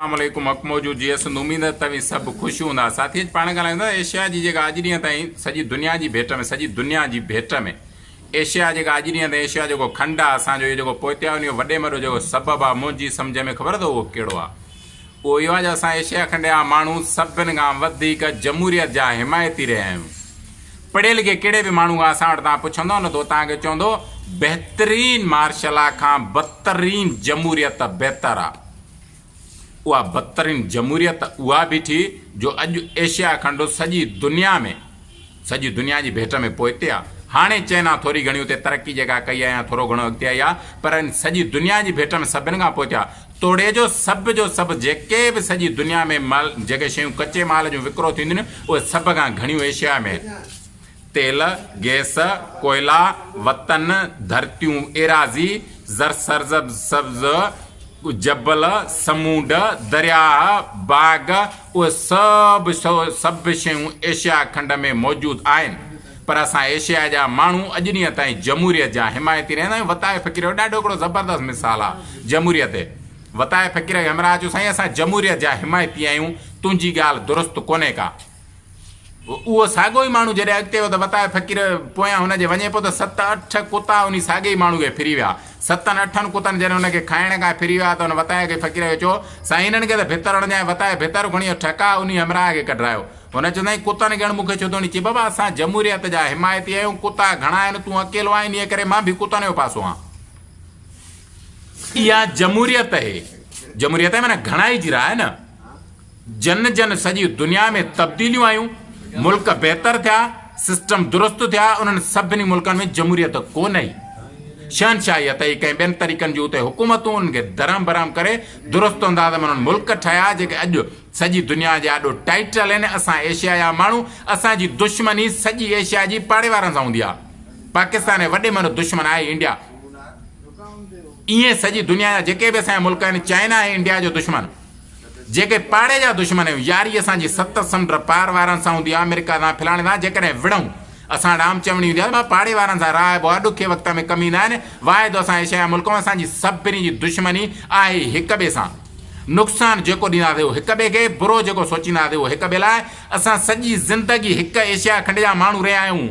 اسلام عليڪم حق موجود جي اسند اميد آهي توهين سڀ خوش هوندا ساٿي اڄ پاڻ ڳالهايون ٿا ايشيا جي جيڪا اڄ ڏينهن تائين سڄي دنيا جي ڀيٽ ۾ سڄي دنيا جي ڀيٽ ۾ ايشيا جيڪا اڄ ڏينهن تائين ايشيا جيڪو کنڊ آهي اسان جو جيڪو پوئتيا ان جو وڏي مڏو جيڪو سبب آهي منهنجي سمجهه ۾ خبر اٿو اهو ڪهڙو آهي اهو اهو آهي جو اسان ايشيا کنڊ جا ماڻهو سڀن کان وڌيڪ جمهوريت جا حمايتي رهيا آهيون پڙهي لکي ڪهڙي به ماڻهو کان اسان وٽ تان پڇندو نه تو تان کي چوندو بهترين مارشلا کان بدترين جمهوريت بهتر آهي اها بدترين جمهوريت اها بيٺي جو اڄ ايشيا کنڊ سڄي دنيا ۾ سڄي دنيا جي ڀيٽ ۾ پوئتي آ. هاڻي چئنا ٿوري گهڻي اتي ترقي جيڪا ڪئي آ يا ٿورو گهڻو اڳتي آئي آ پر ان سڄي دنيا جي ڀيٽ ۾ سڀن کان پوئتي آ. توڙي جو سڀ جو سڀ جيڪي به سڄي دنيا ۾ مال جيڪي شيون ڪچي مال جون وڪرو ٿينديون اهي سڀ کان گهڻيون ايشيا ۾ تيل، گئس، ڪوئلا، وطن، ڌرتيون، ايراضي، زرسرسبز، جبل، سمونڊ، درياهه، باغ، اهي سڀ سڀ شيون ايشيا کنڊ ۾ موجود آهن پر اسان ايشيا جا ماڻهو اڄ ڏينهن تائين جمهوريت جا حمايتي رهندا آهيون وطاء فقير جو ڏاڍو هڪڙو زبردست مثال آ جمهوريت تي وطاء فقير کي همراهه چيو سائين اسان جمهوريت جا حمايتي آهيون تنهنجي ڳالهه درست ڪونهي ڪا اهو ساڳيو ئي ماڻهو جڏهن اڳتي ويو ته وتايو فقير پويان هن جي وڃي پيو ته ست اٺ ڪتا انهي ساڳي ئي ماڻهو کي ڦري ويا. ستن اٺن ڪتن جڏهن هن کي کائڻ کان ڦري ويا ته هن وتايو کي فقير کي چيو، سائين هنن کي ته ڀت هڻ ڏيان وتايو ڀت کڻي ٺڪاء انهي همراهه کي ڪڍرايو. هن چيوسائين ڪتن کي هڻ مون کي ڇو ٿو هڻين چي بابا اسان جمهوريت جا حمايتي آهيون ڪتا گهڻا آهن تون اڪيلو آهين انهي ڪري مان به ڪتن جو پاسو آهان. اها جمهوريت اهي جمهوريت اهي معنيٰ گهڻائي جي راء نه. جن جن سڄي دنيا ۾ تبديليون آيون، ملڪ بهتر ٿيا، سسٽم درست ٿيا، انهن سڀني ملڪن ۾ جمهوريت ڪونه ئي. شهنشاهيت ئي ڪنهن ٻين طريقن جون اتي حڪومتون انهن کي درهم برهم ڪري درست انداز ۾ انهن ملڪ ٺهيا جيڪي اڄ سڄي دنيا جي آڏو ٽائيٽل آهن. اسان ايشيا جا ماڻهو اسان جي دشمني سڄي ايشيا جي پاڙي وارن سان هوندي آهي. پاڪستان جي وڏي ۾ وڏو دشمن آهي انڊيا. ائين سڄي دنيا جا جيڪي به اسان جا ملڪ آهن چائنا آهي انڊيا جو دشمن. جيڪي پاڙي جا دشمن آهيون، ياري اسان جي ست سمنڊ پار وارن سان هوندي آهي، آمريڪا سان، فلاڻي سان، جيڪڏهن وڙهون، اسان وٽ عام چوڻي هوندي آهي ته مان پاڙي وارن سان راهبو آهيان، ڏکي وقت ۾ ڪم ايندا آهن، واحد اسان ايشيائي ملڪ هون، اسان جي سڀني جي دشمني آهي ئي هڪ ٻئي سان، نقصان جيڪو ڏينداسين اهو هڪ ٻئي کي، برو جيڪو سوچينداسين اهو هڪ ٻئي لاء، اسان سڄي زندگي هڪ ايشيا کنڊ جا ماڻهو رهيا آهيون،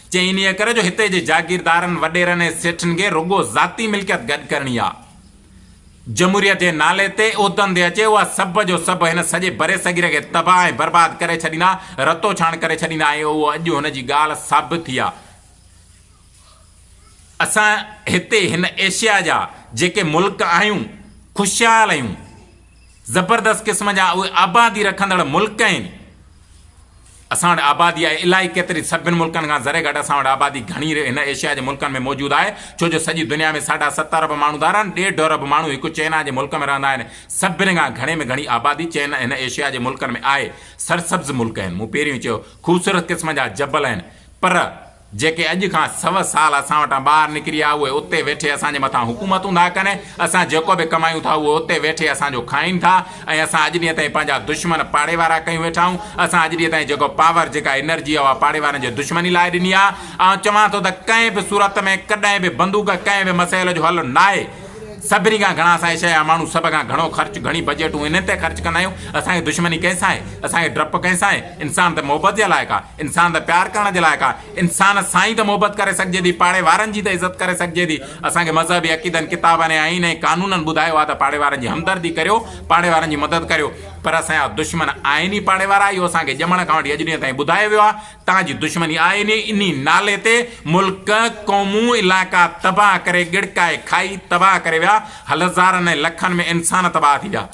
چي انهيء ڪري جو هتي جي جاگيردارن، وڏيرن ۽ سيٺن کي رڳو ذاتي ملڪيت گڏ ڪرڻي آ. جمهوريت جي نالي تي عهدن تي اچي اها سڀ جو سڀ هن سڄي برصغير کي تباهه ۽ برباد ڪري ڇڏيندا، رتو ڇاڻ ڪري ڇڏيندا ۽ اهو اڄ هن جي ڳالهه ثابت ٿي آ. اسان هتي هن ايشيا جا جيڪي ملڪ آهيون، خوشحال آهيون. زبردست قسم جا اهي آبادي رکندڙ ملڪ آهن. اسان وٽ آبادي آهي الائي ڪيتري سڀن ملڪن کان ذري گهٽ اسان وٽ آبادي گهڻي هن ايشيا جي ملڪن ۾ موجود آهي ڇو جو سڄي دنيا ۾ ساڍا ست ارب ماڻهو ڌار آهن ڏيڍ ارب ماڻهو هڪ چئنا جي ملڪ ۾ رهندا آهن سڀن کان گهڻي ۾ گهڻي آبادي چئنا هن ايشيا جي ملڪن ۾ آهي سرسبز ملڪ آهن مون پهريون ئي چيو خوبصورت قسم جا جبل آهن پر جيڪي اڄ کان سو سال اسان وٽان ٻاهر نڪري آ اهي اتي ويٺي اسان جي مٿان حڪومتون ٿا ڪن اسان جيڪو به ڪمايون ٿا اهو اتي ويٺي اسان جو کائين ٿا ۽ اسان اڄ ڏينهن تائين پنهنجا دشمن پاڙي وارا ڪيون ويٺا آهيون اسان اڄ ڏينهن تائين جيڪو پاور جيڪا انرجي آ اها پاڙي وارن جي دشمني لاء ڏني آ آئون چوان ٿو ته ڪنهن به صورت ۾ ڪڏهن به بندوق ڪنهن به مسئل جو حل ناهي سڀني کان گهڻا اسان ايشيا جا ماڻهو سڀ کان گهڻو خرچ گهڻي بجيٽون انهن تي خرچ ڪندا آهيون اسان کي دشمني ڪنهن سان آهي اسان کي ڊپ ڪنهن سان آهي انسان ته محبت جي لائق آ انسان ته پيار ڪرڻ جي لائق آهي، انسان سان ئي ته محبت ڪري سگهجي ٿي، پاڙي وارن جي ته عزت ڪري سگهجي ٿي. اسان کي مذهبي عقيدن، ڪتابن ۽ آئين ۽ قانونن ٻڌايو آهي ته پاڙي وارن جي همدردي ڪريو، پاڙي وارن جي مدد ڪريو. پر اسان جا دشمن آهن ئي پاڙي وارا، اهو اسان کي ڄمڻ کان وٺي اڄ ڏينهن تائين ٻڌايو ويو آهي. تان جي دشمني آهن ئي، انهي نالي تي ملڪ، قومون، علائقا تباهه ڪري، ڳڙڪائي کائي تباهه ڪري ويا، هلزارن ۽ لکن ۾ انسان تباهه ٿي ويا.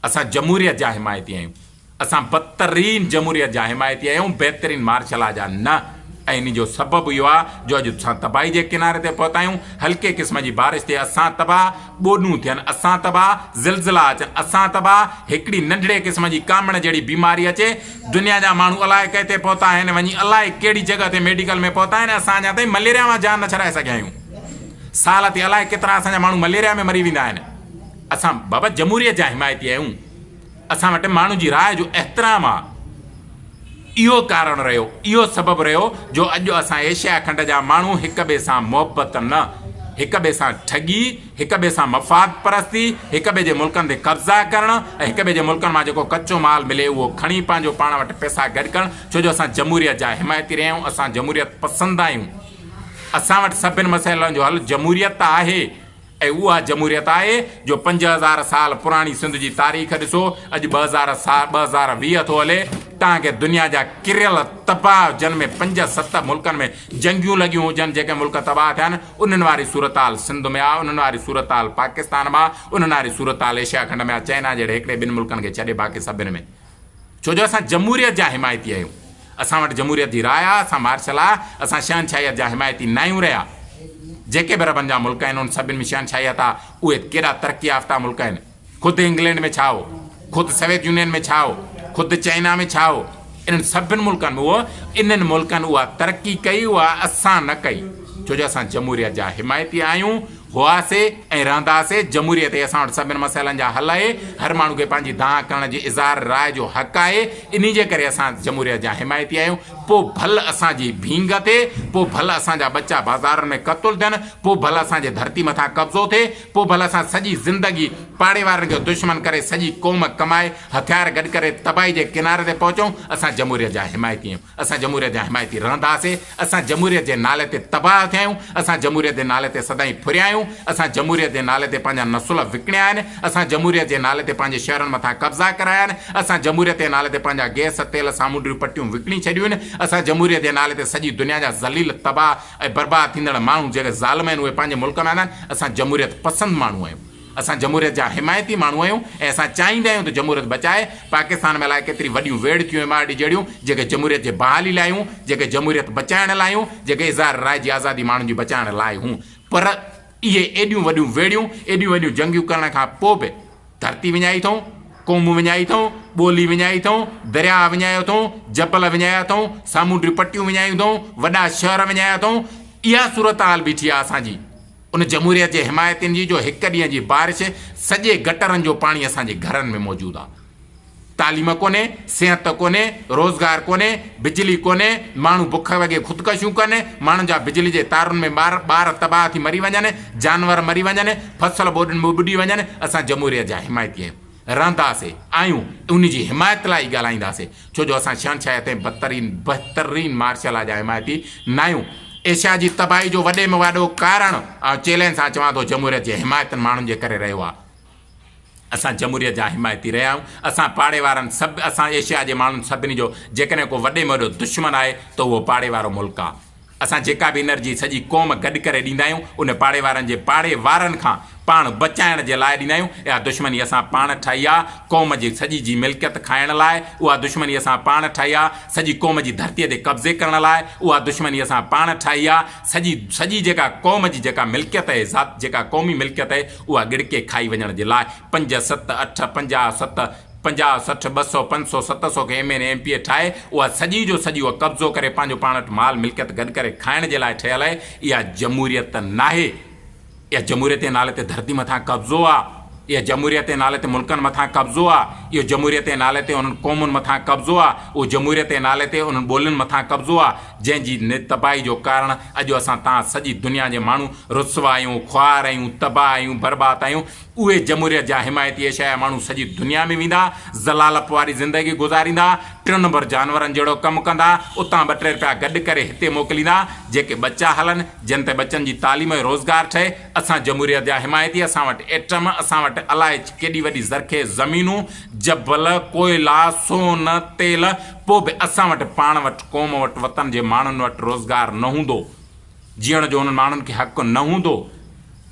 اسان جمهوريت جا حمايتي آهيون. اسان بدترين جمهوريت جا حمايتي آهيون، بهترين مارشل لا جا نه ۽ ان جو سبب اهو آهي جو اڄ اسان تباهي جي ڪناري تي پهتا آهيون، هلڪي قسم جي بارش تي اسان تباهه، ٻوڏون ٿين اسان تباهه، زلزلا اچن اسان تباهه، هڪڙي ننڍڙي قسم جي ڪامڻ جهڙي بيماري اچي دنيا جا ماڻهو الائي ڪئين تي پهتا آهن وڃي الائي ڪهڙي جڳهه تي ميڊيڪل ۾ پهتا آهن ۽ اسان اڃا تائين مليريا مان جان نه ڇڏائي سگهيا آهيون سال تي الائي ڪيترا اسان جا ماڻهو مليريا ۾ مري ويندا آهن اسان بابا جمهوريت جا حمايتي آهيون. اسان وٽ ماڻهن جي راء جو احترام آ اهو ڪارڻ رهيو اهو سبب رهيو جو اڄ اسان ايشيا کنڊ جا ماڻهو هڪ ٻئي سان محبت نه هڪ ٻئي سان ٺڳي هڪ ٻئي سان مفاد پرستي هڪ ٻئي جي ملڪن تي قبضا ڪرڻ ۽ هڪ ٻئي جي ملڪن مان جيڪو ڪچو مال ملي اهو کڻي پنهنجو پاڻ وٽ پئسا گڏ ڪرڻ ڇو جو اسان جمهوريت جا حمايتي رهيا آهيون اسان جمهوريت پسند آهيون اسان وٽ سڀن مسئلن جو حل جمهوريت آهي. هي اها جمهوريت آهي جو پنج هزار سال پراڻي سنڌ جي تاريخ ڏسو اڄ ٻه هزار سال ٻه هزار ويهه ٿو هلي تان کي دنيا جا ڪريل تباهه جن ۾ پنج ست ملڪن ۾ جنگيون لڳيون هجن جيڪي ملڪ تباهه ٿيا آهن انهن واري صورتحال سنڌ ۾ آ انهن واري صورتحال پاڪستان مان آ انهن واري صورتحال ايشيا کنڊ ۾ آ چئنا جهڙي هڪڙي ٻن ملڪن کي ڇڏي باقي سڀن ۾ ڇو جو اسان جمهوريت جا حمايتي آهيون. اسان وٽ جمهوريت جي راء آ، اسان مارشل آ، اسان شهنشاهيت جا حمايتي ناهيون رهيا. جيڪي به عربن جا ملڪ آهن، انهن سڀن ۾ شهنشاهيت آ، اهي ڪيڏا ترقي يافته ملڪ آهن. خود انگلينڊ ۾ ڇا هو، خود سويت يونين ۾ ڇا هو، خود چائنا ۾ ڇا هو، انهن سڀن ملڪن ۾ هو، انهن ملڪن اها ترقي ڪئي، اها اسان نه ڪئي. ڇو جو اسان جمهوريت جا حمايتي آهيون. هئاسي ۽ رهنداسي، جمهوريت ئي اسان وٽ سڀني مسئلن جا حل آهي، هر ماڻهو کي پنهنجي دانهن ڪرڻ جي اظهار راء جو حق آهي، انهي جي ڪري اسان جمهوريت جا حمايتي آهيون، پوء ڀل اسان جي ڀينگ ٿئي، پوء ڀل اسان جا ٻچا بازارن ۾ قتل ٿين، پوء ڀل اسان جي ڌرتي مٿان قبضو ٿئي، پوء ڀل اسان سڄي زندگي پاڙي وارن کي دشمن ڪري سڄي قوم ڪمائي هٿيار گڏ ڪري تباهي جي ڪناري تي پهچون، اسان جمهوريت جا حمايتي آهيون. اسان جمهوريت جا حمايتي رهنداسين، اسان جمهوريت جي نالي تي تباهه ٿيا آهيون، اسان جمهوريت جي نالي تي سدائين ڦريا آهيون، اسان جمهوريت جي نالي تي پنهنجا نسل وڪڻيا آهن، اسان جمهوريت جي نالي تي پنهنجي شهرن مٿان قبضا ڪرايا آهن، اسان جمهوريت جي نالي تي پنهنجا گئس، تيل، سامونڊريون پٽيون وڪڻي ڇڏيون آهن، اسان جمهوريت جي نالي تي سڄي دنيا جا ذليل، تباهه ۽ برباد ٿيندڙ ماڻهو جيڪي ظالم آهن اهي پنهنجي ملڪ ۾ آندا آهن، اسان جمهوريت پسند ماڻهو آهيون. اسان جمهوريت جا حمايتي ماڻهو آهيون ۽ اسان چاهيندا آهيون ته جمهوريت بچائي پاڪستان ۾ الائي ڪيتري وڏيون ويڙهه ٿيون ايم آر ڊي جهڙيون جيڪي جمهوريت جي بحالي لاء هيون جيڪي جمهوريت بچائڻ لاء هيون جيڪي اظهار راء جي آزادي ماڻهن جي بچائڻ لاء هيون پر اهي ايڏيون وڏيون ويڙهيون ايڏيون وڏيون جنگيون ڪرڻ کان پوء به ڌرتي وڃائي اٿئون قومون وڃائي اٿئون ٻولي وڃائي اٿئون درياهه وڃايا اٿئون جبل وڃايا اٿئون سامونڊي پٽيون وڃايون اٿئون وڏا شهر وڃايا اٿئون اها صورتحال بيٺي آهي اسان جي ان جمهوريت جي حمايتين جي جو هڪ ڏينهن جي بارش سڄي گٽرن جو پاڻي اسان جي گهرن ۾ موجود آ. تعليم ڪونهي، صحت ڪونهي، روزگار ڪونهي، بجلي ڪونهي، ماڻهو بک وڳي خودڪشيون ڪن، ماڻهن جا بجلي جي تارن ۾ ٻار ٻار تباهه ٿي مري وڃن، جانور مري وڃن، فصل ٻوڏين ۾ ٻڏي وڃن، اسان جمهوريت جا حمايتي آهيون. رهنداسي آهيون ان جي حمايت لاء ئي ڳالهائينداسي ڇو جو اسان شهنشاهيت ۽ بدترين بهترين مارشل لا جا حمايتي ناهيون ايشيا جي تباهي جو وڏي ۾ واڏو ڪارڻ آئون چيلينج سان چوان ٿو جمهوريت جي حمايتن ماڻهن جي ڪري رهيو آهي اسان جمهوريت جا حمايتي رهيا آهيون اسان پاڙي وارن سڀ اسان ايشيا جي ماڻهن سڀني جو جيڪڏهن ڪو وڏي ۾ وڏو دشمن آهي ته اهو پاڙي وارو ملڪ آهي. اسان جيڪا به انرجي سڄي قوم گڏ ڪري ڏيندا آهيون، ان پاڙي وارن جي پاڙي وارن کان پاڻ بچائڻ جي لاء ڏيندا آهيون. اها دشمني اسان پاڻ ٺاهي آهي، قوم جي سڄي جي ملڪيت کائڻ لاء، اها دشمني اسان پاڻ ٺاهي آهي، سڄي قوم جي ڌرتيء تي قبضي ڪرڻ لاء، اها دشمني اسان پاڻ ٺاهي آهي، سڄي سڄي جيڪا قوم جي جيڪا ملڪيت اهي ذات جيڪا قومي ملڪيت اهي اها ڳڙڪي کائي وڃڻ جي لاء پنج ست اٺ پنجاهه ست پنجاهه، سٺ، ٻه سؤ، پنج سؤ، ست سؤ کي M N A M P A ٺاهي اها سڄي جو سڄي اها قبضو ڪري پنهنجو پاڻ وٽ مال ملڪيت گڏ ڪري کائڻ جي لاء ٺهيل آهي اها جمهوريت ته ناهي اها جمهوريت جي نالي تي ڌرتي مٿان قبضو آ اها جمهوريت جي نالي تي ملڪن مٿان قبضو آ اهو جمهوريت جي نالي تي انهن قومن مٿان قبضو آ اهو جمهوريت جي نالي تي انهن ٻولين مٿان قبضو آ جنهن جي تباهي جو ڪارڻ اڄ اسان تان سڄي دنيا جي ماڻهو رسوا آهيون خوار آهيون تباهه آهيون برباد آهيون اهي جمهوريت جا حمايتي ايشايا ماڻهو سڄي دنيا ۾ ويندا، ذلالپ واري زندگي گذاريندا، ٽن نمبر جانورن جهڙو ڪم ڪندا، اتان ٻه ٽي رپيا گڏ ڪري هتي موڪليندا، جيڪي ٻچا هلن، جن تي ٻچن جي تعليم ۽ روزگار ٺهي، اسان جمهوريت جا حمايتي، اسان وٽ ايٽم، اسان وٽ الائي ڪيڏي وڏي زرخيز زمينون، جبل، ڪوئلا، سون، تيل، پوء به اسان وٽ پاڻ وٽ، قوم وٽ، وطن جي ماڻهن وٽ روزگار نه هوندو. جيئڻ جو انهن ماڻهن کي حق نه هوندو،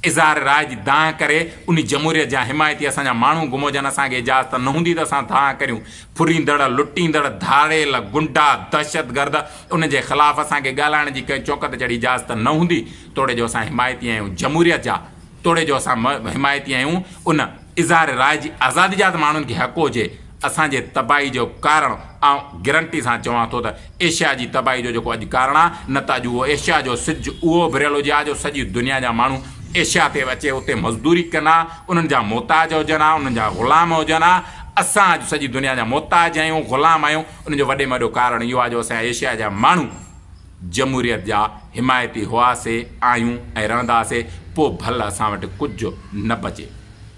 اظهار راء جي دانهن ڪري انهي جمهوريت جا حمايتي اسان جا ماڻهو گم هجن اسان کي اجازت نه هوندي ته اسان دانهن ڪريون، ڦريندڙ، لٽيندڙ، ڌاڙيل، گنڊا، دهشتگرد انهن جي خلاف اسان کي ڳالهائڻ جي ڪنهن چونڪ تي چڙهي اجازت نه هوندي توڙي جو اسان حمايتي آهيون جمهوريت جا توڙي جو اسان حمايتي آهيون ان اظهار راء جي آزادي جا ته ماڻهن کي حق هجي اسان جي تباهي جو ڪارڻ آئون گرنٽي سان چوان ٿو ته ايشيا جي تباهي جو جيڪو اڄ ڪارڻ آهي نه ته اڄ اهو ايشيا جو سج اهو اڀريل هجي ها جو سڄي دنيا جا ماڻهو ايشيا تي اچي اتي مزدوري ڪن ها انهن جا محتاج هجن ها انهن جا غلام هجن ها اسان اڄ سڄي دنيا جا محتاج آهيون غلام آهيون ان جو وڏي ۾ وڏو ڪارڻ اهو آهي جو اسان ايشيا جا ماڻهو جمهوريت جا حمايتي هئاسي آهيون ۽ رهنداسي پوء ڀل اسان وٽ ڪجهه نه بچي.